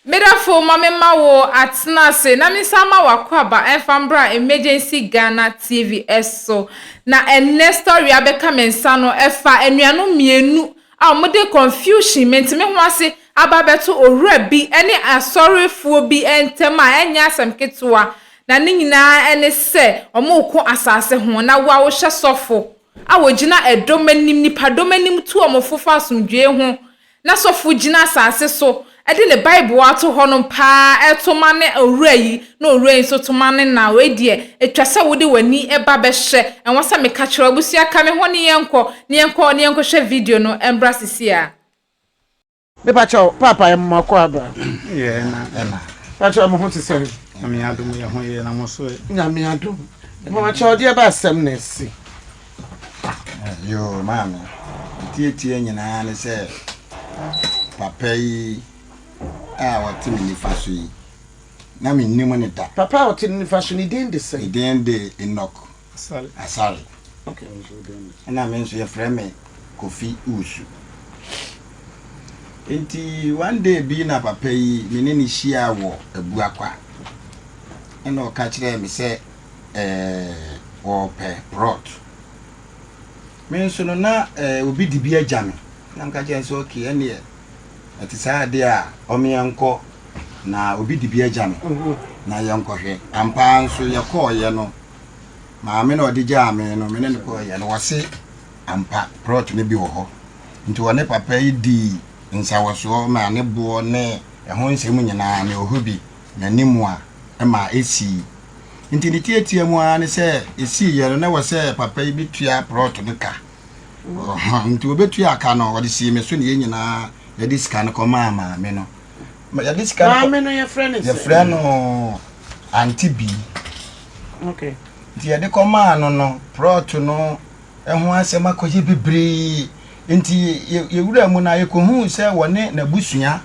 Me dafo ma me ma wo atena ase na me san ma wo akwaaba ɛnfa mbra emergency Ghana TV ɛso na ɛnɛ story a bɛka me nsa no ɛfa anuanom mmienu a ɔmo de confusion me nteme ho ase aba abɛto owura bi ɛne asɔrefoɔ bi ɛntɛm a ɛnyɛ asɛm ketewa na ne nyinaa ɛne sɛ ɔmo reko asaase ho na wo a wohyɛ sɔfo a wogyina ɛdɔm anim nipa dɔm anim tu ɔmo fo fa asomdwoe ho Ná sɔfo gyina asase so de ne Bible a ato hɔ no pa ara reto ma ne owura yi, na owura yi nso to ma ne na. Wei deɛ, etwa sɛ wode w'ani ba bɛhwɛ. Ɛwɔ sɛ meka kyerɛ wo. Abusua, ka me ho ne yɛnkɔ, na yɛnkɔ, na yɛnkɔhwɛ video no mmra seesei ara. Mepa kyɛw paapa yɛ moma kɔ abra. Yɛ na ɛna. Pa kyɛw mo ho te sɛn. Nyame adom yɛ ho yɛ na mo so ɛ. Nyame adom. Moma kyɛw ɔdeɛ ba asɛm na ɛse. Yoo maame ntiatia nyinaa ne sɛ papa yi a ɔte me nifa so yi na mennim ne da. Papa a ɔte ne nifa so ne din de sɛn? Ne din de Enoch Asare. Ɛna me nso yɛfrɛ me Kofi Usu. Nti one day bi na papa yi me ne ne hyia wɔ Abuakwa. Ɛna ɔka kyerɛɛ me sɛ. eh, wɔpɛ rot. Me nso no na eh, obi de bi agya me. Na mka kyerɛ nso okay ɛneɛ ɛte saa adeɛ a ɔmeɛ nkɔ na obi de bi agya me na yɛnkɔhwɛ. Ampaa nso yɛkɔɔyɛ no maame na ɔde gyaa me no mene no kɔɔyɛ no wɔse ampa prot no bi wɔ hɔ. Nti wɔne papa yi di nsawɔsoɔ ma ne boɔ ne ɛho nsɛm nyinaa ne ɔhɔ bi n'anim a ɛma ɛsi Nti ne tiatia mu ara ne sɛ ɛsiiɛ no na ɛwɔ sɛ papa yi bɛtua prɔt no ka. Ɔhɔ, nti ɔbɛtuaa ka no, ɔde sii me so na yɛn nyinaa yɛde sika no kɔmaa maame no. Yɛde sika no kɔ- Maame no yɛfrɛ ne sɛ? Yɛfrɛ no Ante Bii. Ok. Nti yɛde kɔmaa no no, prɔt no ho asɛm akɔyɛ bebree. Nti yɛ- yɛwuraa mu no a, yɛkɔhuu sɛ wɔne n'abusua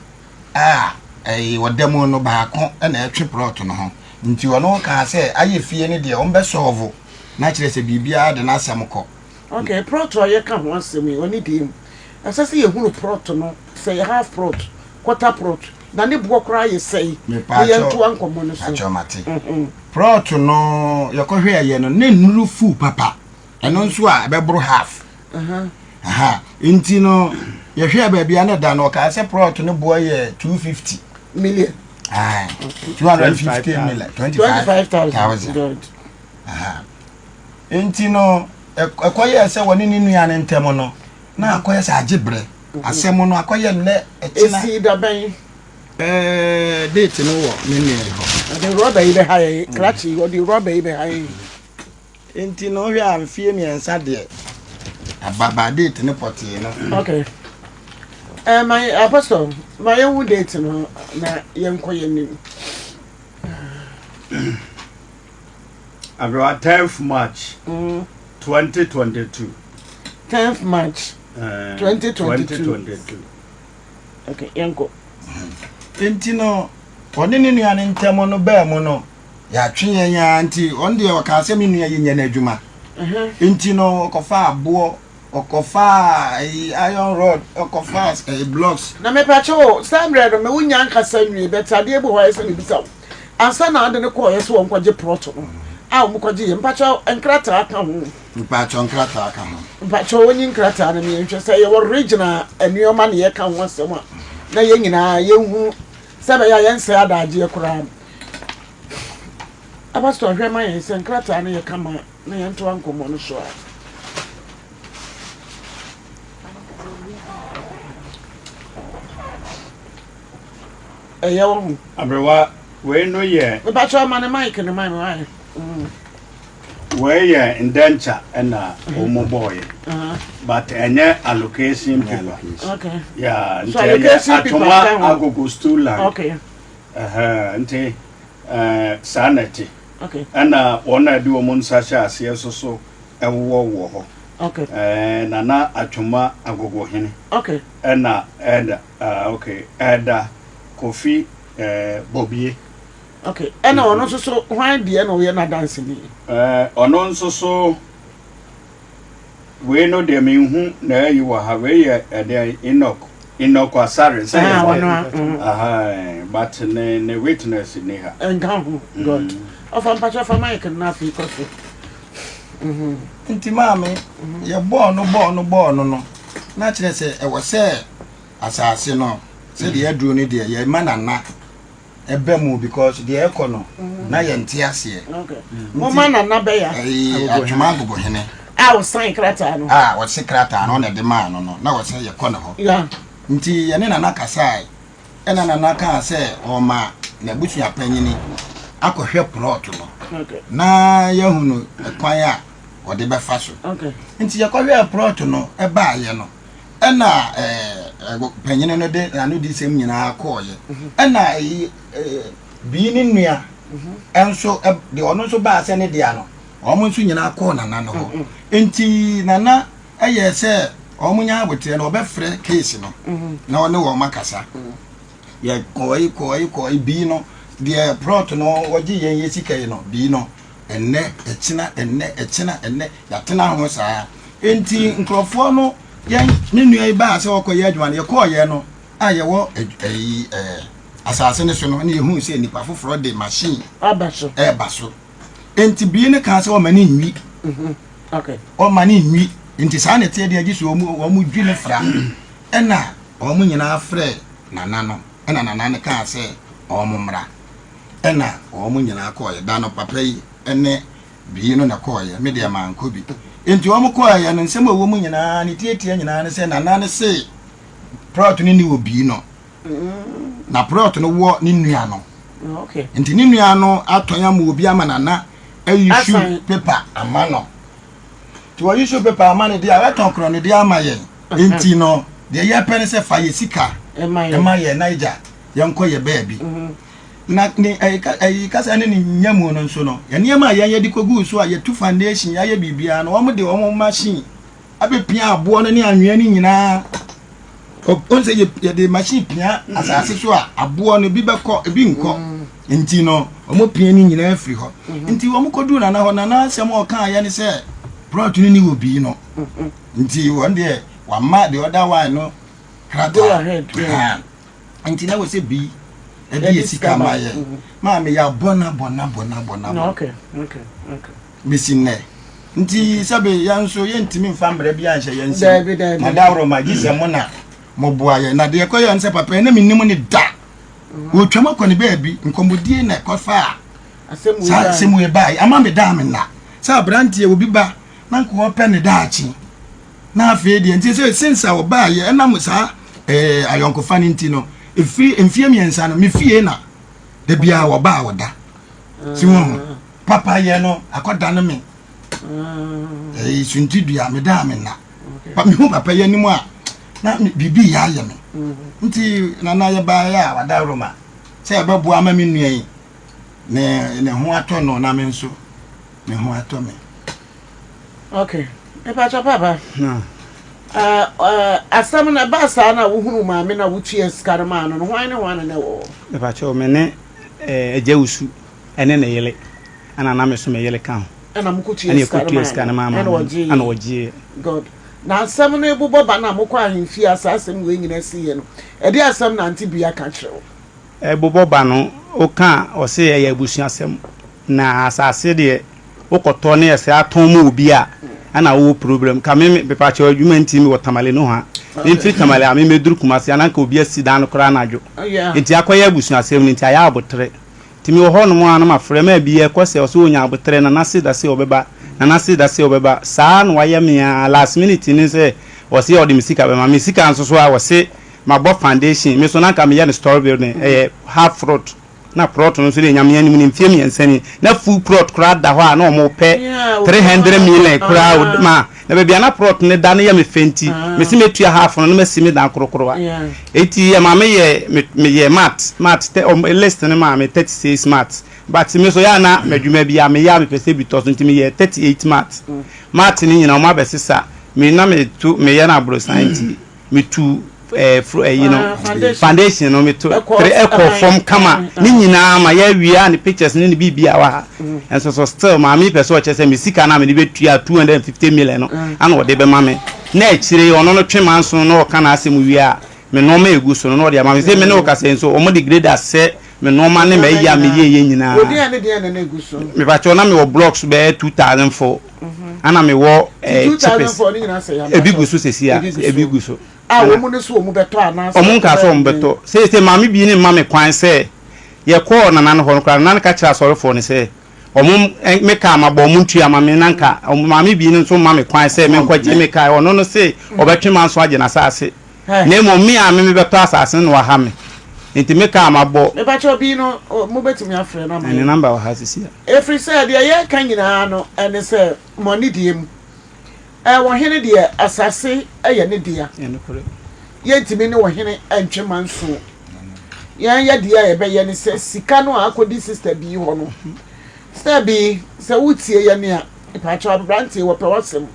a ɛyɛ ɔda mu no baako na ɛtwe plot no ho nti ɔno kaa sɛ ayɛ fie no deɛ wɔn bɛ solve na kyerɛ sɛ biribiara de n'asɛm kɔ. Ok plot a yɛka ho asɛm yi ɔne deɛ mu ɛsɛ sɛ yɛhunu plot no sɛ yɛ half plot quarter plot na ne boɔ koraa yɛ sɛi na yɛntoa nkɔmmɔ no so. Mepakyɛw mate. Plot no yɛkɔhwɛɛyɛ no na nnuru full papa. ɛno nso a ɛbɛboro half aha nti no yɛhwɛ baabi a na da no ɔkaa sɛ prɔt no boɔ yɛ two fifty million two hundred and fifty million twenty five thousand nti no ɛkɔyɛ sɛ wɔne ne nua no ntɛm no na akɔyɛ sɛ agye berɛ asɛm no akɔyɛ nnɛ ɛkyena ɛsi dabɛn ɛɛ date no wɔ ne nua hɔ ɔde rɔba yi bɛha yɛ krakye ɔde rɔba yi bɛha yɛ Nti no wohwɛ a mfeɛ mmiɛnsa deɛ ababaa date no pɔtee no. Okay. Eh, ma yɛ apostle ma yɛn hu date no na yɛn kɔ yɛn nim. Abewa tenth March mm. twenty twenty two. Tenth March eh, twenty twenty two. Okay, yɛn kɔ. Nti no wɔne ne nua no ntɛm no baa mu no. Yɛatwe yɛn ara nti, ɔno deɛ ɔkaa sɛ me nua yi nyɛ n'adwuma. Nti no ɔkɔfaa aboɔ, ɔkɔfaa ayi iron rod, ɔkɔfaa ɛyi blocks. Na mepakyɛ o, saa mmerɛ no me wo nnya ankasa nwie, but adeɛ bi wɔ hɔ a ɛsɛ sɛ mebisa wo. Ansa na ɔde no kɔɔeɛ sɛ ɔnkɔgye plot no a wɔn kɔgyeeɛ, mepakyɛ nkrataa ka ho? Mepakyɛ nkrataa ka ho? Mepakyɛ wɔn nyi nkrataa no ma yɛn hwɛ sɛ ɛyɛ original nneɛma na yɛka ho asɛm a, na yɛn nyinaa yɛn hunu. Sɛ ɛbɛyɛ a yɛnsɛe adaagyeɛ koraa no, Abastor hwɛ ma yɛn sɛ nkrataa no yɛ kama a, na yɛntoa nkɔmmɔ no so ara. Ɛyɛ wo ho. Aberewa, wei no yɛ. Mepakyɛw ma no mic no ma me. Wei yɛ ndenture na wɔn bɔɔyɛ but ɛnyɛ allocation paper okay yeah nti ɛyɛ atoma agogo stool land okay ɛhɛn nti ɛɛ saa na ɛte okay ɛna wɔn a ɛde wɔn nsa hyɛ aseɛ soso ɛwowɔ wɔ hɔ okay ɛɛ nana atoma agogo hene okay ɛna ɛda ɛɛ okay ɛda kofi ɛɛ bobie. Ok, ɛna ɔno nso so hwan deɛ na ɔyɛ n'adanseni? Eh, ɔno nso so, wei no deɛ menhu n'ayi wɔ ha, wei yɛ ɛdeɛ Enoch, Enoch Asare sɛ yɛ sɛ, mm. aha, but ne, ne witness ni ha. Ɛnka ho, mm. good. Ɔfa mpakyɛ fa mic no afei kɔ so. Mhm. Nti maame, mhm. yɛ bɔɔl no bɔɔl no bɔɔl no no, na kyerɛ sɛ ɛwɔ sɛ asase no sɛdeɛ aduro no deɛ yɛma nana Ɛba mu because deɛ ɛkɔ no na yɛ nte aseɛ. Moma nana bɛya. Adwuma agogo hene. A ɔsan krataa no. A ɔse krataa no na ɛde maa no no na ɔse yɛkɔ ne hɔ. Ya. Nti yɛne nana kasae ɛna nana kaa sɛ ɔma n'abusua panyini akɔhwɛ plot no na yɛahunu kwan a ɔde bɛfa so. Nti yɛkɔhwɛɛ plot no ɛbaayɛ no. ɛna panyini no de n'ano di sɛm nyinaa kɔɔyɛ mhm. ɛna bii ne nua mhm. ɛnso deɛ ɔno nso baa sɛ ne dea no wɔn nso nyinaa kɔɔ nana no hɔ mhm. nti nana ɛyɛ sɛ wɔn nya aboteɛ no ɔbɛfrɛ keesi no na ɔne wɔn akasa yɛ kɔɔyi kɔɔyi kɔɔyi bii no deɛ prɔt no wɔgye yɛn yɛ sika yi no bii no. ɛnnɛ, ɛkyena, ɛnnɛ, ɛkyena, ɛnnɛ, yɛatena ho saa. Enti nkurɔfoɔ no, yɛn me nua yi baa sɛ ɔkɔyɛ adwuma no, yɛkɔɔyɛ no a yɛwɔ ɛyi ɛɛ asase no so no, ɛna yɛhuu sɛ nipa foforɔ de machine aba so, ɛreba so. Enti bie no kaa sɛ ɔma ne nwi, mhm. okay. ɔma ne nwi, nti saa na ɛteɛ deɛ gye sɛ wɔn dwi no fra, ɛna wɔn nyinaa frɛ nana no, ɛna nana no kaa sɛ wɔn mmra. Ɛna wɔn nyinaa kɔɔeɛ. Da no papa yi ne Bii no na kɔɔeɛ. Me deɛ mankɔ bi. Enti wɔn kɔɔeɛ no, nsɛm a ɛwɔ mu nyinaa, ne tiatia nyinaa ne sɛ Nana no se Prɔt no nni wɔ Bii no. Na Prɔt no wɔ ne nua no. Enti ne nua no atɔn ama obi ama Nana ayusu pepa ama no. Nti wɔyusu pepa ama no deɛ a, watɔn korɔ no deɛ ama yɛn. Enti no, deɛ yɛpɛ ne sɛ fa yɛ sika ma yɛn na gya. yɛnkɔyɛ baabi. Na ne ɛyi kasa ne ne nyamu no nso no, nneɛma a yɛn yɛde koguu so a yɛtu foundation, yɛayɛ biribiara no, wɔde wɔn machine abɛpia aboɔ no ne anwea no nyinaa. Wɔn sɛ yɛde machine pia asase so a aboɔ no ebi bɛkɔ ebi nkɔ. Nti no wɔn pia ne nyinaa firi hɔ. Nti wɔn kɔduu nana hɔ nana asɛm a ɔkaa yɛ ne sɛ plot no ni wɔ bii no. Nti wɔn deɛ wama the other one no krataa. Nti na wɔsɛ bi ɛde yɛ sika ma yɛ maa me ya bɔ na bɔ na bɔ na bɔ na bɔ bɛsi nnɛ nti sɛbe yɛn nso yɛntumi mfa mmerɛ bi anhyɛ yɛn nsɛm na daworo ma gye sɛ mo na moboa yɛ na deɛ kɔyɛ nsɛ papa ɛna menim ne da wɔtwam mm-hmm. akɔ ne baabi nkɔmmɔdie na ɛkɔfa a saa asɛm ɛbae ama me daa me nna sɛ aberanteɛ obi ba na nkɔɔ pɛ ne daakye na afei deɛ nti sɛ since a ɔbaa yɛ ɛnam saa ɛɛ eh, ayɔnkofa no nti no ɛfiri mfie mmiɛnsa no me fie na da biara ɔbaa ɔda si wɔn ho papa yɛ no akɔda no me ɛɛ sunti dua me daa me nna pa me hu papa yɛ anim a na biribi yɛ ayɛ me nti nana yɛ baa yɛ a wada roma sɛ ɛbɛboa ama me nua yi ne ne ho atɔ no na me nso me ho atɔ me. ok mepakyɛ papa asɛm no ɛbaa saa na wohunu maame na wotua sika no maa no no hwan ne hwan na na ɛwɔ hɔ mepakyɛ me ne agya wusu ɛne ne yele ɛna na meso me yele ka ho ɛna mokɔtua sika no maa no ɛna ɔgyeeɛ god na asɛm no ebobɔ ba na mokɔ ahemfie a saa asɛm wei nyina siiɛ no ɛde asɛm na ante bia ka kyerɛ wo ɛbobɔ ba no woka ɔse ɛyɛ abusuasɛm Na asase deɛ wokɔtɔ ne ɛsɛ atɔn ma obi a ɛna wowɔ problem ka me mepakyɛw adwuma nti mewɔ tamale nohoa memfiri tamale a me mɛduru kumase a na nka obi asi dan no koraa anadwo nti akɔyɛ abusua asɛm no nti ayɛ aboterɛ nti mewɔ hɔ nom a na mafrɛ ma bi ɛkɔ sɛ ɔsɛ ɔnya aboterɛ nana se da se ɔbɛba nana se da se ɔbɛba saa na wayɛ me a last minute ne sɛ ɔse ɔde me sika bɛma me sika nso so a ɔse mabɔ foundation me so na nka meyɛ no story building ɛyɛ half fruit Na prɔt no nso dee Nyame anim no mfie mmiɛnsa ni, na full prɔt koraa da hɔ a na wɔn pɛ three hundred million koraa o, ma na baabi a na prɔt no da no yɛ me fɛ nti me se mɛtua half no na masi me dan korokorowa. Enti yɛ ma me yɛɛ me me yɛɛ mat mat tɛ wɔn list no maa me thirty six mat but me nso yɛ a na m'adwuma bi a me yɛ a me pɛ sɛ bi tɔ so nti me yɛɛ thirty eight mat mat no nyina wɔn abɛsesa me na me to me yɛ no aborosan nti me tu eh, fr eh, you know, foundation no meto tere ɛkɔ fam kama ne nyinaa ma yɛawia ne pictures ne ne biribia wɔ ha nso so still maame pɛ sɛ ɔkyɛ sɛ me sika no a mede bɛtua 250 million no ana ɔde bɛma me na akyire ɔno no twe manso na ɔka n'asɛm wie a me nɔɔma ɛgu so no na ɔde ama me sɛ me ne wo kasɛ nso ɔmo de grade asɛ me nɔɔma ne ma ɛyi a meyɛyɛ nyinaa mepakyɛ na mewɔ blocks bɛyɛ 2000 fo ana mewɔ eh, chipes ebi gu so sɛsi a ebi gu so ɔmo nka sɛ ɔmo bɛtɔ seesei maame bi ne mma me kwan sɛ yɛkɔɔ nana no hɔ no koraa nana no ka kyerɛ asɔrefoɔ no sɛ ɔmo eh, me kaa ma bɔ ɔmo ntua ma me na nka maame bi no nso ma me kwan sɛ menkɔgye me kaa ɔno no se ɔbɛtwe ma nso agye n'asaase Na mmom me ara me mebɛtɔ asase no na wɔaha me. Enti me kaa m'abɔ. Mepakyɛw bi no mobɛtumi afrɛ no ama yɛn. Ne number wɔ ha sisi a. Ɛfiri sɛ deɛ yɛreka nyinaa no ne sɛ mo anidie mu ɔhene deɛ asase yɛ ne dea. Yɛntumi ne ɔhene ntwe manso. Yɛn yɛdeɛ a yɛbɛyɛ ne sɛ sika no a akɔdi sister bii hɔ no. Sister bii sɛ wotie yɛn a mepakyɛw aberanteɛ wɔpɛ w'asɛm.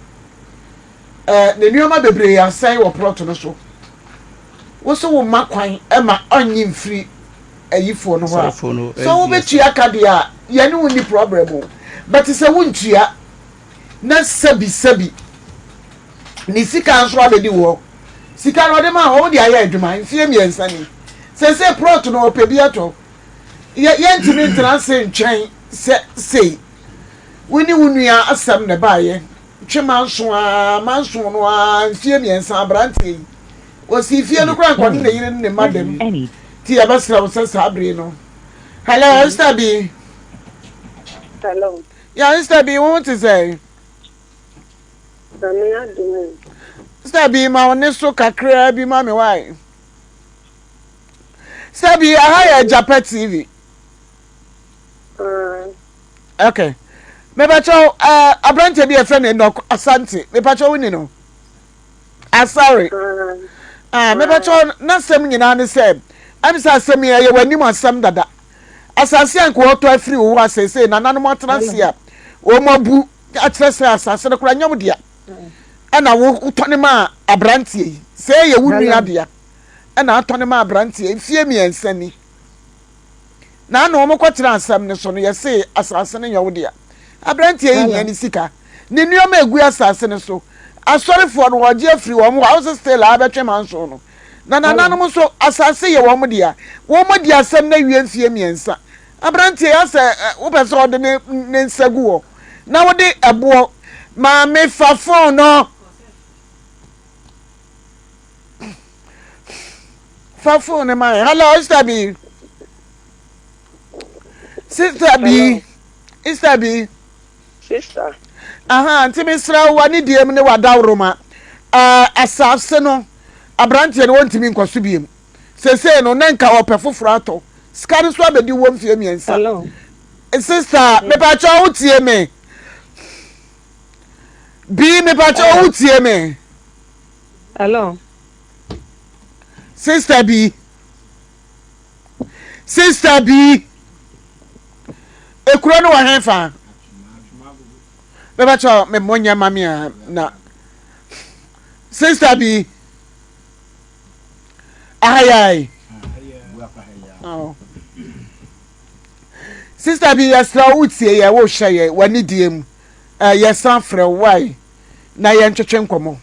Na nneɛma bebree asɛe wɔ plot no so. Wo se wo mma kwan ma ɔnnye mfiri ayifoɔ no hɔ a, sɛ wobɛtua ka deɛ a, yɛne wo nni problem o. But sɛ wontua na sɛbi sɛbi ne sika nso abɛdi wo hɔ. Sika no ɔde maa hɔ, wode ayɛ adwuma mfeɛ mmiɛnsa ni. Seesei plot no ɔpɛ bi atɔ. Yɛ yɛntumi ntena ase ntwɛn sɛ sei. Wo ne wo nua asɛm na ɛbaeɛ. twe manso aa manso no aa mfie mmiɛnsa abranteɛ yi ɔsii fie no koraa nka ɔne ne yere ne ne mma dam nti yɛbɛsrɛ wo sɛ saa bere no hello Esther bi hello ya Esther bi wo ho te sɛ Sami adumu Esther bi ma wo ne so kakraa bi ma me wae Esther bi aha yɛ Japa TV okay mepatwa wo ɛɛ aberante bi yɛfrɛ no enoch asante mepatwa wo ni no asare ɛɛ mepatwa wo n'asɛm nyinaa ne sɛ ɛm sɛ asɛm yi ɛyɛ w'anim asɛm dada asase a nka wɔtɔ afiri wo hɔ asɛsɛ nananom atena ase a wɔn abu akyerɛ sɛ asase no koraa nyɛ wo dea ɛna wotɔ ne ma aberanteɛ yi sɛ ɛyɛ wo nua dea ɛna atɔ ne ma aberanteɛ mfie mmiɛnsa ni. na na wɔkɔtena asɛm no so no, yɛsee asase no yɛ wo dea. Aberanteɛ yi hia ne sika, ne nneɛma egu asase no so. Asɔrefoɔ no wɔgye afiri wɔn hɔ a wosɛ still a bɛtwe manso no. Na nananom nso asase yɛ wɔn dea. Wɔdi asɛm no awie mfeɛ mmiɛnsa. Aberanteɛ yi asɛ wopɛ sɛ ɔde ne ne nsa gu hɔ na wode ɛboɔ maame fa fon no. fa fone no ma hello sista bi sista bi sista bi sista aha nti mesrɛ wo w'ani deɛ mu ne w'adaworoma uh, asase no aberanteɛ no wɔntumi nkɔ so biom sesei no na nka ɔpɛ foforɔ atɔ sika no so abɛdi wɔ mfie mmiɛnsa sista mepaakyɛ wo tie me bii mepaakyɛ wo tie me Hello. Sister bi. Sister bi. Ekuro no wɔ hen fa? Bɛbɛ kyɛ me mmɔ nyɛ ma me a na. Sister bi. Ahayai. Oh. Sister bi yɛsrɛ wo wotie yɛ wohyɛ yɛ w'anidie mu. Uh, yɛsan frɛ wo wae. na yɛntwetwe nkɔmmɔ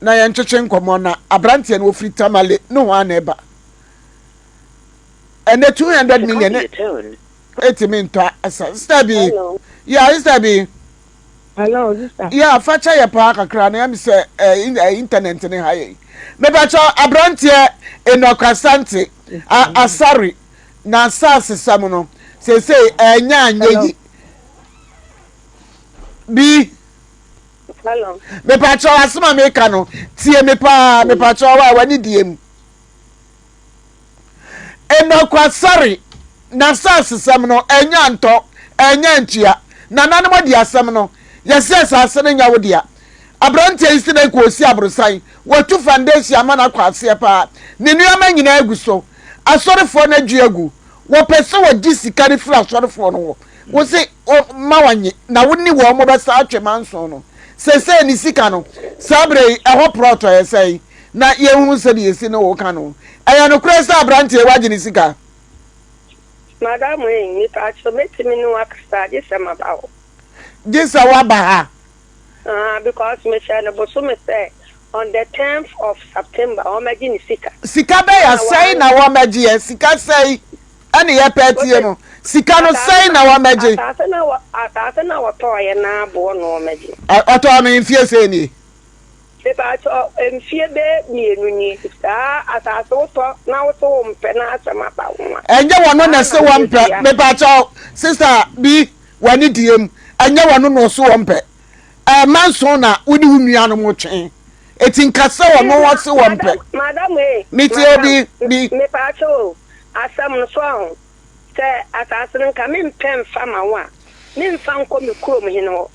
na yɛntwetwe nkɔmmɔ na aberanteɛ no wɔfiri tamale ne ho a na ɛba ɛnɛ 200 million ne ɛtumi ntɔ asa sista bi yɛ sista bi Hello, sister. Yeah, facha yɛ paa kakra na yɛm sɛ eh, internet ne ha yɛ. Mebakyɛ aberanteɛ Enoch Asante Asare na asase sɛm no sɛsɛ ɛnyɛ anyɛ yi. bi. Hello. Mepakyɛw asɛm a meka no tie me paa hmm. mepakyɛw a w'ani die mu. Nnɔkwasɛre na saasesɛm no ɛnya ntɔ ɛnya ntua nananom de asɛm no yɛsɛ asase no nya wo dea aberanteɛ yi si dɛ nka ɔsi aborosan wɔatu foundation ama no akɔ aseɛ paa ne nneɛma nyinaa agu so asɔrefoɔ no adwi agu wɔpɛ sɛ wɔgye sika no firi asɔrefoɔ no hɔ Wose ma wɔnye na wo ne wɔn bɛsa atwe manson no. Sesei ne sika no, saa berɛ yi ɛhɔ prɔtɔeɛ sɛn na yɛnhunu sɛdeɛ ɛsi ne wo ka no. Ɛyɛ nokorɛ sɛ aberanteɛ yi wagye ne sika? Madam ei, mepaakyɛw mɛtumi ne wo akasa gye sɛ maba hɔ. Gye sɛ woaba ha? Ahaa, because mehyɛɛ no bosome sɛ on the tenth of September wɔmɛgye ne sika. Sika bɛya sɛn na wɔmɛgyeɛ? Sika sɛn? Ɛne yɛ pɛ tie no. Sika no sɛn na wɔmɛgye. Asase na wɔ asase na wɔtɔɔyɛ na aboɔ no wɔmɛgye. Ɔtɔɔ no mfie sɛn nie. Mepaakyɛw mfie bɛyɛ mmienu nie saa asase wotɔ na wose wo mpɛ na asɛm aba ho a. Ɛnyɛ wɔno na ɛse wɔmpɛ mepaakyɛw sister bi w'ani diem ɛnyɛ wɔno na ɔse wɔmpɛ Eh manson na wo ne wo nuanom twe. Eti nka sɛ ɔno ɔse ɔmpɛ. Madam ee. Mete obi bi. Mepaakyɛ o, asɛm no so ɔho. Sɛ asase no nka mempɛ mfa ma wo a, memfa nkɔ me kurom hene hɔ.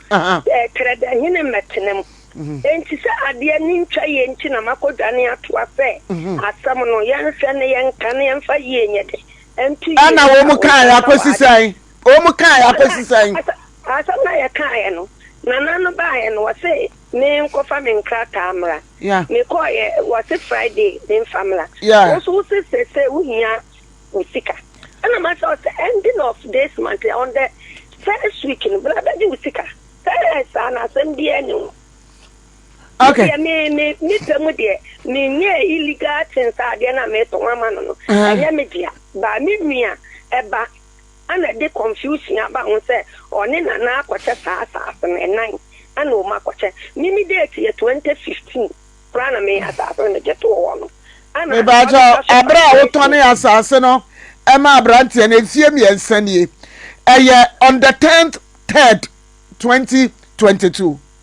Eh Trɛdɛ hene mmɛtena mu. Enti sɛ adeɛ ani ntwa yie nti na makɔdwane atoa sɛ asɛm no yɛnhwɛ na yɛnka na yɛmfa yie nyɛ dɛ nto yie nka wo nsɛm na w'adeɛ. Wɔkaeɛ akɔsi sɛn? Asɛm no a yɛkaeɛ no, Nana no baeɛ no, ɔse menkɔfa me nkrataa mmra. Mekɔeɛ, ɔse Friday memfa mmra. Wo nso wose seesei wohia wo sika. Ɛna mase ɔse ending of this month, on the first week no, bra bɛgye wo sika. Sɛ ɛyɛ saa no, asɛm biara nni ho. Deɛ me, me, me pɛ mu deɛ, menyɛɛ illegal things a adeɛ no a meretɔn ama no no, ɛnyɛ me dea. But me nua, ɛba, Ana de confusion aba ho sɛ ɔne Nana akɔkyɛ saa asase no, ɛnan ana wɔn akɔkyɛ, me me date yɛ 2015 koraa na me asase no megye too hɔ no, ana ɔde Mepa kyɛw, sika so ɛberɛ a wo tɔn ne asase no ɛma abranteɛ no, mfie mmiɛnsa nie, ɛyɛ on the 10th 3rd 2022.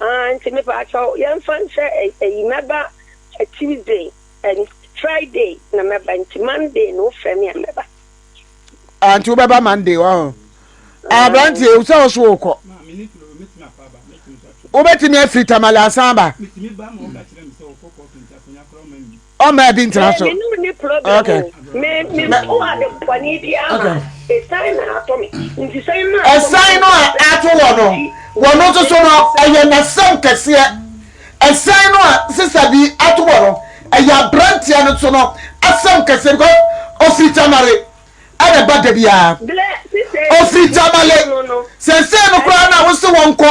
Ah nti mepaakyɛw yɛnfa nhyɛ ɛyi mɛba Tuesday and Friday na mɛba nti Monday na wofrɛ me a mɛba. Ah nti wobɛba Monday wɔ ho. Ah. Aberanteɛ ewu sɛ ɔso okɔ. Wobɛtumi afiri Tamale asan aba. ɔma ɛbi ntena so. mene ne problem o me me mpo ade pɔne bi ama ɛsan na ato me nti sɛ na ɛsan no a ato wɔ no wɔ no nso so no ɛyɛ n'asɛm kɛseɛ ɛsan no a sisa bi ato wɔ no ɛyɛ aberanteɛ no nso no asɛm kɛseɛ bikɔ ofiri tamale ɛna ɛba da biara ofiri tamale sɛsɛ no koraa na wose wɔnkɔ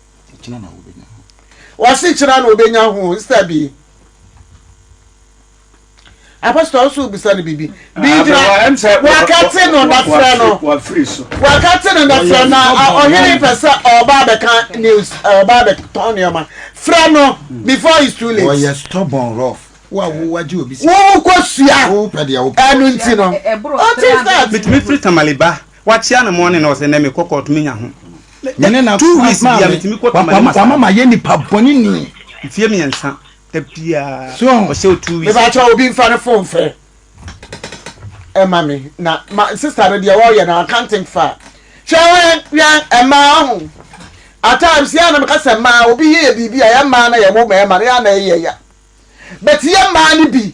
Wɔse kyena na obenya ho instead bi Apostle wo so wobisa no bibi bi gyina wakate no na frɛ no wakate no na frɛ na ɔhene pɛ sɛ ɔba abɛka news ɔba abɛtɔn nneɛma frɛ no before it's too late. Ɔyɛ stubborn rough wo a wo wagye obi sika wo kɔ sua ɛno nti no ɔte sɛ. Mitumi firi Tamale ba. Wakyea no morning na ɔsɛ nɛ me kɔ court me nya ho nɛ two weeks bia me tumi kɔ tamale massage. Wama ma yɛ nipa bɔne ni. Mfie miɛnsa da biaa ɔsɛ o two weeks. Me pa kyɛw obi nfa ne phone nfrɛ ɛma me na ma sister no deɛ ɔyɛ no I can't think far hwɛ wɛn wɛn ɛmaa ɔho at times yɛ na me ka sɛ maa obi yɛ yɛ biribi a yɛ maa na yɛ wo mɛɛma no yɛ na yɛ yɛ ya but yɛ maa no bi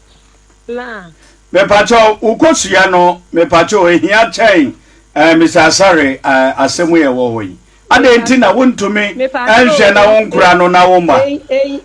plants. Mepakyɛw wo kosua no mepakyɛw ehia kyɛn eh Mister Asare eh asɛm yi a ɛwɔ hɔ yi adɛn nti na wo ntumi nhwɛ na wo nkora no na wo mma.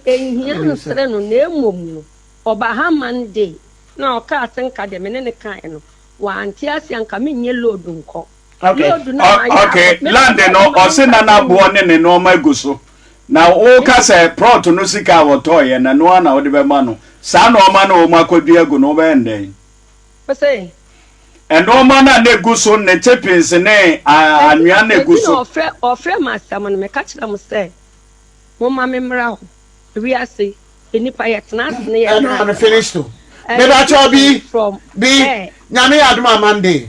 Enhia nsrɛ no na mmom no ɔba ha ma no de na ɔkaa se nka deɛ me ne no kaeɛ no wante aseɛ anka menyɛ load nkɔ. Okay. Okay. Land no ɔse na n'aboɔ ne ne nneɛma egu so. Na woka sɛ prɔt no sika a wɔtɔɔyɛ na noa na wode bɛma no. Saa nneɛma no a wɔn akɔdua agu no wobɛyɛ no dɛn? Ɔsɛ. Nneɛma no a na egu so ne chipins ne anwea na egu so. Ɔfrɛ ɔfrɛ mu asɛm no meka kyerɛ mo sɛ momma me mmra hɔ. Wiase nnipa yɛtena ase ne yɛtena ase. Ɛno ano finish to. Mebakyɛw bi bi nyame yɛ adom a Monday.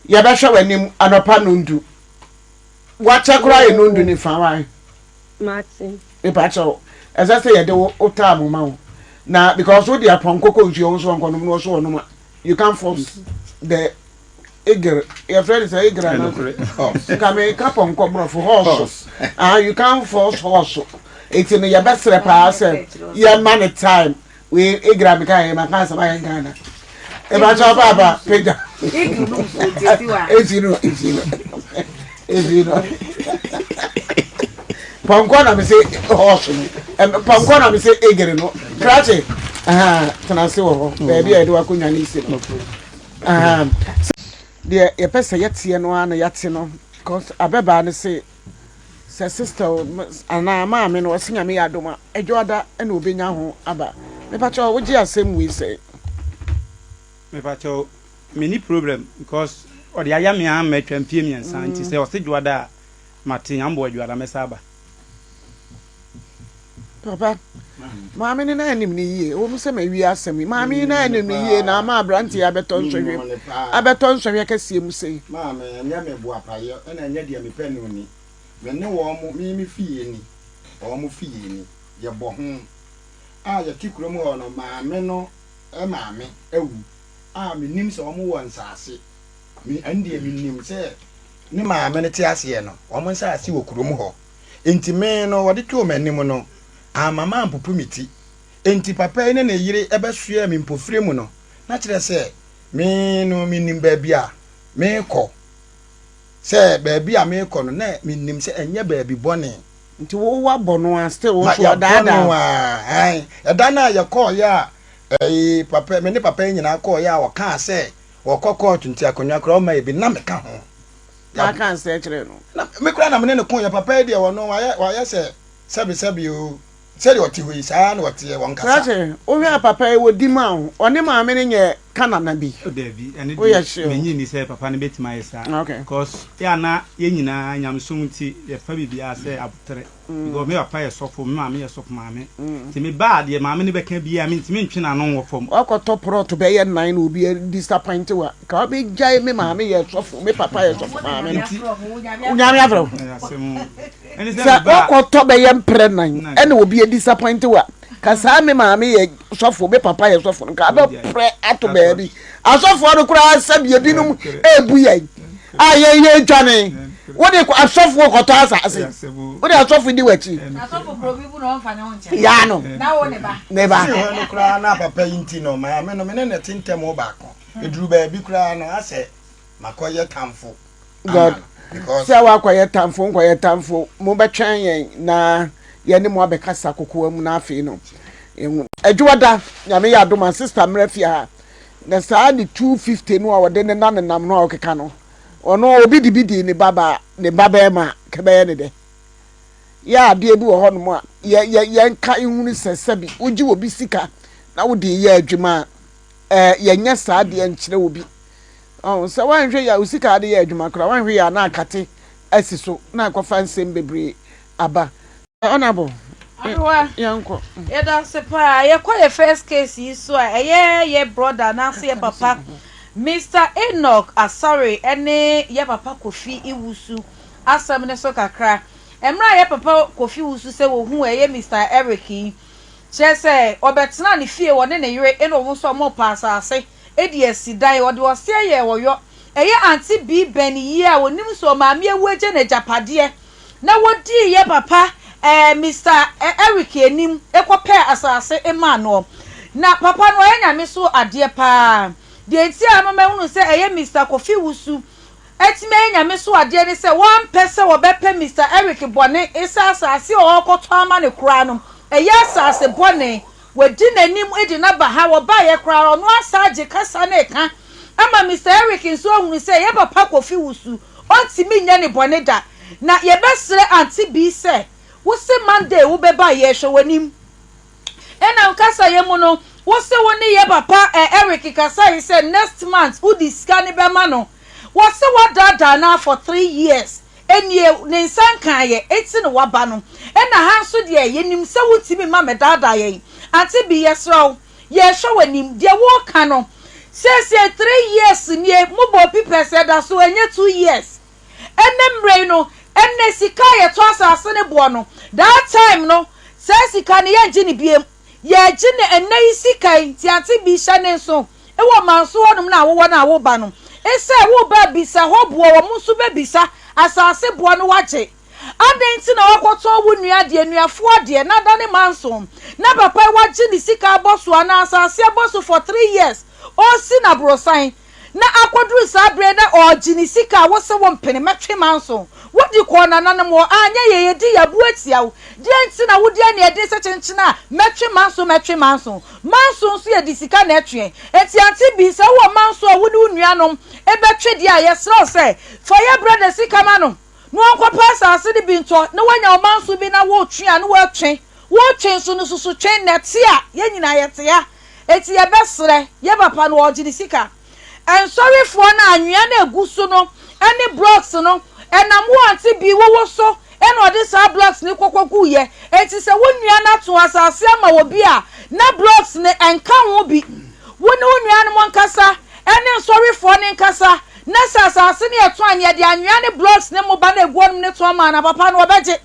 yɛbɛhwɛ w'anim anɔpa nondu wakyɛ koraa yɛ nondu ne fa wae mepakyɛw ɛsɛ sɛ yɛde wo wotaa mo ma wo na because wode apɔnkɔ kɔ nsuo wo nso wɔnkɔnom na wɔso wɔnom a you can force the eagle yɛfrɛ no sɛ eagle ana nka meka pɔnkɔ borɔfo horse ah you can force horse ɛti no yɛbɛserɛ paa sɛ yɛma no time wei egira mi kan yɛ ma kan sɛba yɛn kan na eba tɔ ba ba peja efi no efi no efi no pɔnkɔ na mi se hɔɔso no pɔnkɔ na mi se egiri no krakye tena se wɔ hɔ beebi a yɛde wakɔ nwa ne si no deɛ yɛpɛ sɛ yɛteɛ no ara na yɛate no because abɛbaa no se. Sɛ sister o anaa maame no ɔse nyame yɛ adom a adwoada na obenya ho aba mepakyɛw wogye asɛm wei sɛn. Mepakyɛw menni problem because ɔde ayɛ me ara matwa mfie mmiɛnsa nti sɛ ɔse dwoada a mate amboa dwoada mɛsa aba. Papa, maame no na anim no yie. Ɛwɔ mu sɛ mawie asɛm yi. Maame yi na anim no yie na ama aberanteɛ abɛtɔ nsɔhwɛ mu. Abɛtɔ nsɔhwɛ kɛseɛ mu sei. Maame, ɛnyɛ me boapayɛ na ɛnyɛ deɛ mepɛ no ni. Me ne wɔn, me me fie ni, wɔn mo fie ni. Yɛbɔ ho. A yɛte kurom hɔ no, maame no maame awu a mennim sɛ wɔn wɔ nsaase. Me, ɛndeɛ menim sɛ ne maame no te aseɛ no, wɔn nsaase wɔ kurom hɔ. Enti me no, wɔde too m'anim no, amma mampopo me ti. Enti papa yi ne ne yere bɛsoɛɛ me mpofirem mu no, na kyerɛ sɛ, me no minnim baabi a merekɔ, sɛ baabi a merekɔ no, na minnim sɛ ɛnyɛ baabi bɔne. Nti wo wɔabɔ no ara still wo nso wɔadaadaa wo. Ma yɛabɔ no ara, aane. Ɛda no a yɛkɔeɛ a, ɛɛ, papa, me ne papa yi nyinaa kɔeɛ a, ɔkaa sɛ ɔrekɔ kɔɔto nti akonnwa koraa ɔmma yɛ bi, na meka ho. na aka nsɛɛ kyerɛɛ no. Na me koraa na me ne no koeɛ, papa yi deɛ ɔno wayɛ, wayɛ sɛ sɛbe sɛbe oo, sɛdeɛ ɔte hɔ yi, saa ara na ɔteɛ, wɔnkasa. Saa kyɛ, wohwɛ a papa yi ɔdi mu a, ɔne maame no nyɛ Kanana bi? Oh daabi, ɛno deɛ Woyɛ sure? mennye nni sɛ papa no bɛtumi ayɛ saa, Okay. cos yɛ a na yɛn nyinaa, nyamesom nti, yɛfa biribiara sɛ aboterɛ. because me papa yɛ sɔfo, me maame yɛ sɔfo maame, nti me ba a deɛ maame no bɛka biara me ntumi ntwe n'ano nwɔ fam. Wakɔtɔ prɔt bɛyɛ nnan na obi disappoint wo a, nka wabɛgyae me maame yɛ sɔfo, me papa yɛ sɔfo maame no. Nti Nyame afrɛ wo. Ɛyɛ asɛm o. Ɛne sɛ Sɛ me ba a. wakɔtɔ bɛyɛ mprɛ nnan ɛna obi disappoint wo a, ka saa me maame yɛ sɔfo, me papa yɛ sɔfo no, nka wabɛprɛ ato baabi. Asɔfoɔ no koraa sɛdeɛ ebinom rebu yɛn a yɛn yɛn dwane. Wode asɔfoɔ kɔtɔ asase. Wode asɔfo di w'akyi. Yaa no. Ne ba. Si hɔ no koraa na papa yi nti no maame no me ne ne te ntɛm baako. Eduru baabi koraa no asɛ Makɔyɛ tamfo ama no because. Sɛ wakɔyɛ tamfo nkɔyɛ tamfo mo bɛtwɛn yɛn na yɛne mo abɛkasa kokoa mu na afei no yɛn. Adwoada nyame yɛ adom a sister mmra fie ha na saa ne two fifty no a ɔde ne na nenam no a ɔkeka no ɔno obi de bi dii ne ba baa ne ba bɛɛma a kɛbɛyɛ ne dɛ yɛ adeɛ bi wɔ hɔ nom a yɛ yɛ yɛnka nhunu sɛ sɛbi wogye obi sika na wode yɛ adwuma a. ɛɛ yɛnyɛ saa adeɛ nkyerɛ obi ɔn sɛ wanhwɛ yɛ a osika ade yɛ adwuma koraa wanhwɛ yɛ a na akate asi so na akɔfa nsɛm bebree aba honorable adowa yɛnkɔ yɛda ase paa yɛkɔ yɛ first case yi so a ɛyɛ yɛ brother anaasɛ yɛ papa Mr Enoch Asare ɛne yɛ papa Kofi Iwusu asɛm ne so kakra ɛmmerɛ a yɛ papa Kofi Iwusu sɛ wɔhu ɛyɛ Mr Eric yi Kyerɛ sɛ, ɔbɛtenaa ne fie, ɔne ne yere na wɔn nso wɔpaa asase de asi dan. Ɔde ɔseɛ yɛɛ ɔyɔ. Ɛyɛ Auntie Bee bɛn yie a ɔnim sɛ ɔmaame awu agya no agyapadeɛ na wɔdii yɛ papa ɛɛ Mister Eric anim kɔpɛɛ asase maa noɔ. Na papa no ɔyɛ Nyame so adeɛ paa. Deɛ nti a ama mahunu sɛ ɛyɛ Mister Kofi Wusu atumi ayɛ Nyame so adeɛ ne sɛ wɔampɛ sɛ wɔbɛpɛ Mister Eric bɔne esɛ asase a ɔɔkɔtɔ ama no koraa no ɛyɛ asase bɔne wadi nanim de no aba ha wɔbaeɛ koraa ɔno asan agye kasa no ɛka ama Mister Eric nso ahunu sɛ ɛyɛ papa Kofi Wusu ɔntumi nyɛ ne bɔne da na yɛbɛsrɛ Auntie Bee sɛ wose Monday wobɛba yɛɛhwɛ wanim. Ɛna nkasa yɛ mu no wose wo ne yɛ papa ɛ Eric kasa yi sɛ next month wode sika no bɛma no wɔse wadaadaa no a for three years ɛnie ne nsa nkaeɛ eti na waba no ɛna ha nso deɛ yɛnim sɛ wontumi ma mɛdaadaa yɛn Ante Bee yɛsrɛ wo yɛhwɛ w'anim deɛ woka no seesei three years nie mobɔɔ pipɛs ɛda so ɛnyɛ two years Ɛnnɛ mmerɛ yi no, ɛnnɛ sika a yɛtɔ asase no boɔ no, that time no, saa sika no yɛngye no biem. Yɛgye no ɛnnɛ yi sika yi, nti ante bi hyɛ ne nso. Ewɔ Manso hɔnom na wowɔ na woba no, esɛ woba a bisa hɔ boɔ, wɔn nso bɛbisa, asase boɔ no wagye. Adɛn nti na woakɔtɔn wo nua deɛ, nuafoɔ deɛ, na adane Manso, na papa yi wagye ne sika abɔ so anaa asase abɔ so for three years, ɔresi no aborosan. Na akɔduru saa berɛ yi na ɔregye ne sika a wose wo mpene mɛtwe manso. Wodi kɔɔ nananom hɔ a anyɛ yie yɛdi yɛ abo atia wo. Deɛn nti na wodi aniɛden sɛ kyenkyen a mɛtwe manso mɛtwe manso. Manso nso yɛde sika na ɛtweɛ. Enti Auntie Bee sɛ wowɔ manso a wo ne wo nuanom bɛtwe deɛ a yɛsrɛ wo sɛ fa yɛ brada sika ma no na ɔnkɔpɛ asaase no bi ntɔ na wanya wo manso bi na woretwe a na woatwe. Woretwe nso no susu twe na ɛte a yɛn nyinaa yɛte ha. Enti yɛbɛsrɛ yɛn papa no ɔregye ne sika. Nsɔrefoɔ no anwea no ɛgu so no ne blocks no ɛnam wo ante bi wowo so na ɔde saa blocks no kɔkɔ guiɛ. Enti sɛ wo nua no ato asase ama obi a na blocks no ɛnka ho bi, wo ne wo nuanom nkasa ne nsɔrefoɔ no nkasa na sɛ asase no yɛtɔn a nea yɛde anwea ne blocks ne mmoba no ɛgu hɔ nom no tɔn ma no a papa no ɔbɛgye.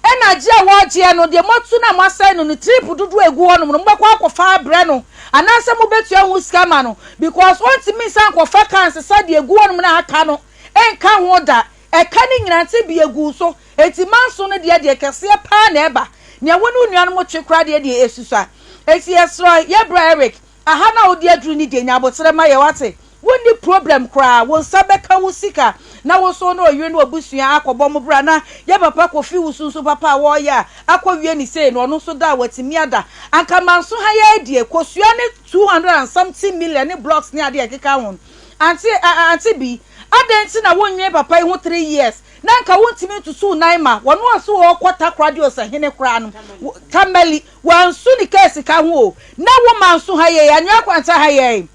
ɛna agye a wɔregyeɛ no deɛ moatu no a moasɛe no no trip dodoɔ a ɛgu hɔ nom no mobɛkɔ akɔfa abrɛ no anaasɛ mobɛtua ho sika ma no because ɔntumi nsa nkɔfa ka nsesa deɛ ɛgu hɔ nom na aka no nka ho da ɛka ne nyina nte bi ɛgu so ɛti manso no deɛ deɛ kɛseɛ paa na ɛba nea wo ne wo nuanom twe kora deɛ deɛ ɛsusua ɛti yɛserɛ yɛbrɛ Eric Aha na wode aduru ne denya aboterɛ ma yɛ wate? Wonni problem koraa, wo nsa bɛka wo sika na wo nso wo ne ɔyere ne w'abusua akɔbɔ mo bra na yɛ papa Kofi wo sunsun papa a wɔɔyɛ a akɔ wie ne sei no ɔno nso da a watumi ada anka manso ha yɛ adie kosua ne two hundred and something million ne blocks ne adeɛ a ɛkeka ho Ante a ante bi adɛn nti na wonnwene papa yi ho three years na anka wontumi ntutu wo nan ma wɔno a so ɔɔkɔ takora de osahene koraa no wo Tamale Wansu ne kaa sika ho o. Na wo man so ha yei, Anwea Kwanta ha yei,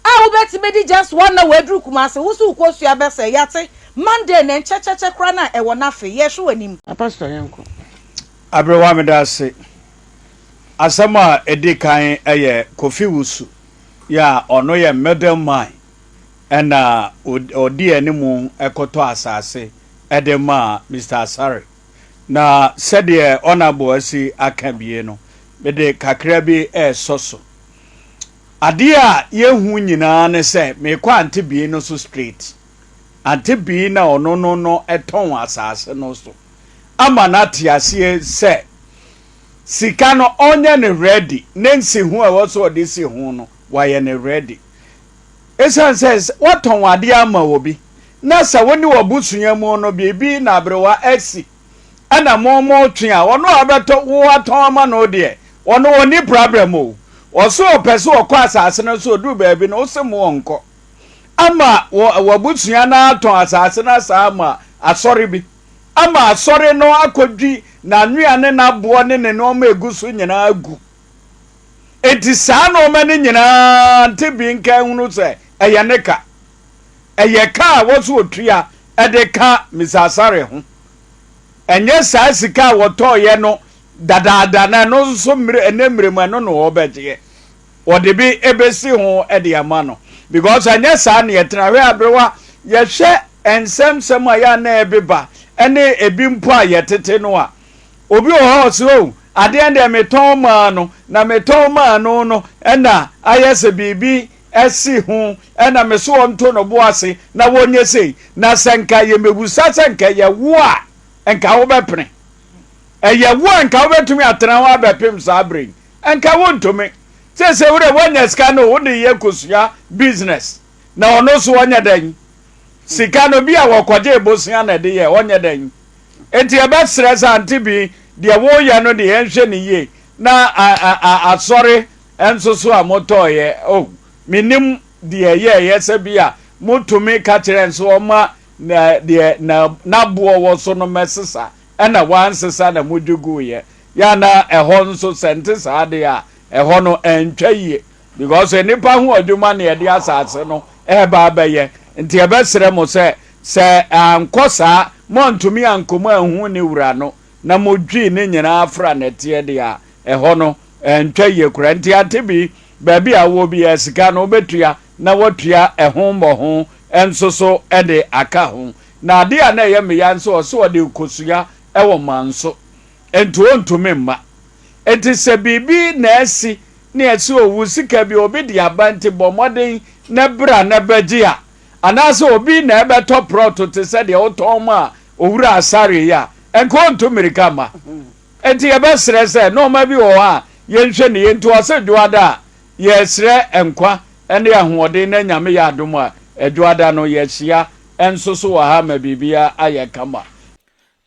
a wobɛtumi de just one hour aduru Kumasi, wo nso wokɔsua bɛsɛe. Yɛate. Monday nnɛ, nkyɛkyɛkyɛ koraa na ɛwɔ no afe. Yɛhwe w'anim. Pastor yɛnkɔ. Aberewa meda ase. Asɛm a ɛdi kan yɛ Kofi Wusu yi a ɔno yɛ middle man ɛna ɔdi anim kɔtɔ asase de maa Mister Asare. Na sɛdeɛ Honourable asi aka bie no, mede kakra bi resɔ so. Adeɛ a yɛhu nyinaa ne sɛ, mekɔ Ante Bii no so straight. Ante Bii na ɔno no no tɔn asase no so ama no ate aseɛ sɛ, sika no ɔnyɛ no ready, ne nsiho a ɛwɔ sɛ ɔde si ho no, wayɛ no ready. Esiane sɛ wɔatɔn adeɛ ama obi na sɛ wo ne w'abusua mu no biribi na aberewa asi ɛna mo mo twe a, ɔno a ɔbɛtɔ wo atɔn ama no deɛ, ɔno ɔnni prabrɛm o. Ɔse ɔpɛ sɛ ɔkɔ asaase no so, ɔduru baabi no wose mo ɔnkɔ. Ama wɔ w'abusua no atɔn asaase no asan ama asɔre bi. Ama asɔre no akɔdwi n'anwea ne n'aboɔ ne ne nnoɔma a ɛgu so nyinaa agu. Enti saa nnoɔma no nyinaa nte bi nka nhunu sɛ ɛyɛ ne ka. Ɛyɛ ka a wɔso otua de ka Misasare ho. Ɛnyɛ saa sika a wɔtɔɔeɛ no dadaada na ɛno nso ɛnɛ mmerɛ mu ɛno na wɔbɛgyeɛ. Wɔde bi bɛsi ho de ama no. Because ɛnyɛ saa na yɛtena. Hwɛ aberewa yɛhwɛ nsɛmsɛm a yɛ a na ɛbeba ne ebi mpo a yɛtete no a, obi wɔ hɔ a ɔse o adeɛ deɛ metɔn maa no na metɔn maa no no ɛna ayɛ sɛ biribi ɛsi ho ɛna me so ɔnto no bo ase na wɔnyɛ sei na sɛ nka yɛmɛbusa sɛ nka ɛyɛ wo a nka wobɛpene ɛyɛ wo a nka wobɛtumi atena ho abɛpem saa berɛ yi nka wontumi sɛ sɛ wode woanya sika no wode yɛ kosua business na ɔno so ɔnyɛ dɛn sika no bi a wɔkɔgyee bosea na ɛde yɛ ɔnyɛ dɛn enti ɛbɛsrɛ sɛ ante bi deɛ woyɛ no deɛ ɛnhwɛ ne yie na asɔre nso so a motɔɔyɛ oh menim deɛ ɛyɛɛyɛ sɛ bi a motumi ka kyerɛ nso ɔma na deɛ na n'aboɔ wɔ so no mɛsesa ɛna wansesa na modwiguiɛ yɛ na ɛhɔ nso sɛ nte saa deɛ a ɛhɔ no ɛntwa yie Because sɛ nnipa hu adwuma ne ɛde asase no reba abɛyɛ nti ɛbɛsrɛ mo sɛ sɛ ankɔ saa moantumi ankɔ mu anhu ne wura no na modwii ne nyinaa afra nɛteɛ deɛ a ɛhɔ no ɛntwa yie koraa nti ante bi baabi a wowɔ biara sika no wobɛtua na woatua ɛho mmɔho nso so de aka ho na adeɛ a na ɛyɛ meya nso ɔse ɔde rekɔsua wɔ manso Enti ontumi mma. Enti sɛ biribi na asi ne ɛsɛ owu sika bi obi de aba nti bɔ mmɔden na bra na bɛgye a, anaasɛ obi na ɛbɛtɔ prɔto te sɛ deɛ wotɔn maa Owura Asare yi a, nka ontu mmirika mma. Enti yɛbɛsrɛ sɛ nnoɔma bi wɔ hɔ a yɛnhwɛ no yie nti ɔse Dwoada a, yɛresrɛ nkwa ne ahoɔden na Nyame yɛ adom a, Dwoada no yɛhyia nso so wɔ ha ma biribiara ayɛ kama.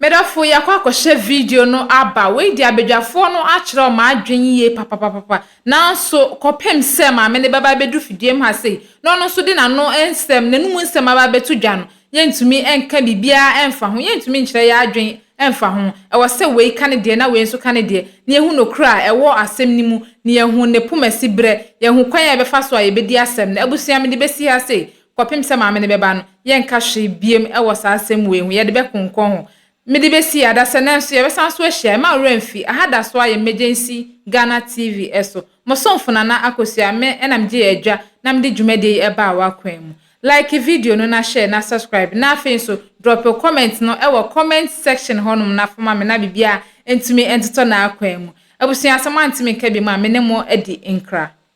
Medɔfo yɛakɔ akɔhyɛ video no aba. Wei deɛ abadwafoɔ no akyerɛw m'adwene yie papapapapa. Nanso kɔpem sɛ maame no bɛba abɛdu fidie mu ha sei na ɔno nso de n'ano nsɛm, n'anum nsɛm aba abɛto dwa no, yɛntumi nka biribiara mfa ho. Yɛntumi nkyerɛ yɛn adwene mfa ho. Ɛwɔ sɛ wei ka ne deɛ na wei nso ka ne deɛ, na yɛhu nokorɛ a ɛwɔ asɛm no mu, na yɛahu ne poma siberɛ. Yɛahu kwan a yɛbɛfa so a yɛbɛdi asɛm no. Abusua, mede bɛsi ha sei, kɔpem sɛ Maame no bɛba no, yɛnka hwee biem wɔ saa asɛm wei ho, yɛde bɛkonkɔn ho. Mede bɛsi yɛ adasɛ, nanso yɛbɛsan so ahyia. Mma wo werɛ mfi, aha da so ara yɛ Emergency Ghana TV so. Mo somfo Nana Akosua, me na megyee adwa na mede dwumadie yi baa w'akwan mu. Like video no na share na subscribe, na afei nso drop wo comment no wɔ comment section hɔnom na fa ma me na biribiara ntumi ntotɔ n'akwan mu. Abusua, sɛ moantumi nka bi mu a, me ne mo adi nkra.